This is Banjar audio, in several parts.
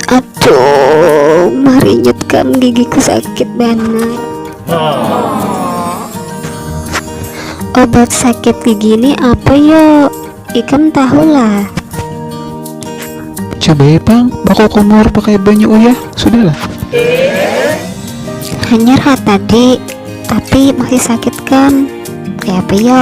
Aduh, marinyut kam gigiku sakit banar. Obat sakit gigi ini apa yo? Ikam tahu lah. Coba ya pang, bako kumur pakai banyu uyah, sudahlah. Hanyar ha tadi, tapi masih sakit kam. Kaya apa yo?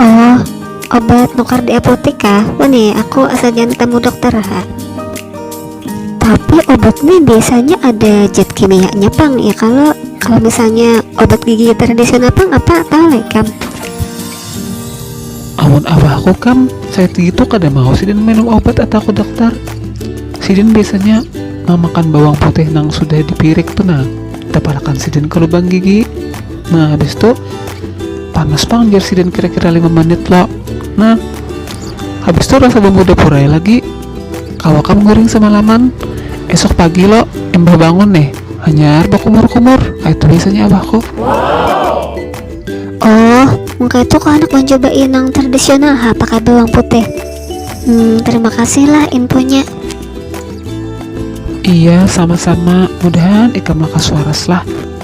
Oh, obat nukar di apotik kah? Wani, aku asa jangan ketemu dokter ha. Tapi obat ini biasanya ada zat kimianya pang ya kalau kalau misalnya obat gigi tradisional pang apa tahu lek kam? Amun abahku kam, saya itu kada mau sidin minum obat atau ke dokter. Sidin biasanya mamakan bawang putih nang sudah dipirik tu nah, tapalakan sidin ke lubang gigi. nah habis itu panas pang jar sidin kira-kira 5 menit lo nah habis itu rasa bumbu dapur aja lagi awak kamu guring semalaman esok pagi lo imbah bangun nih hanyar bakumur-kumur ah, itu biasanya abahku wow. oh muka itu kok anak mencoba inang tradisional ha pakai bawang putih hmm, terima kasih lah infonya Iya, sama-sama. Mudahan ikam maka suaras lah.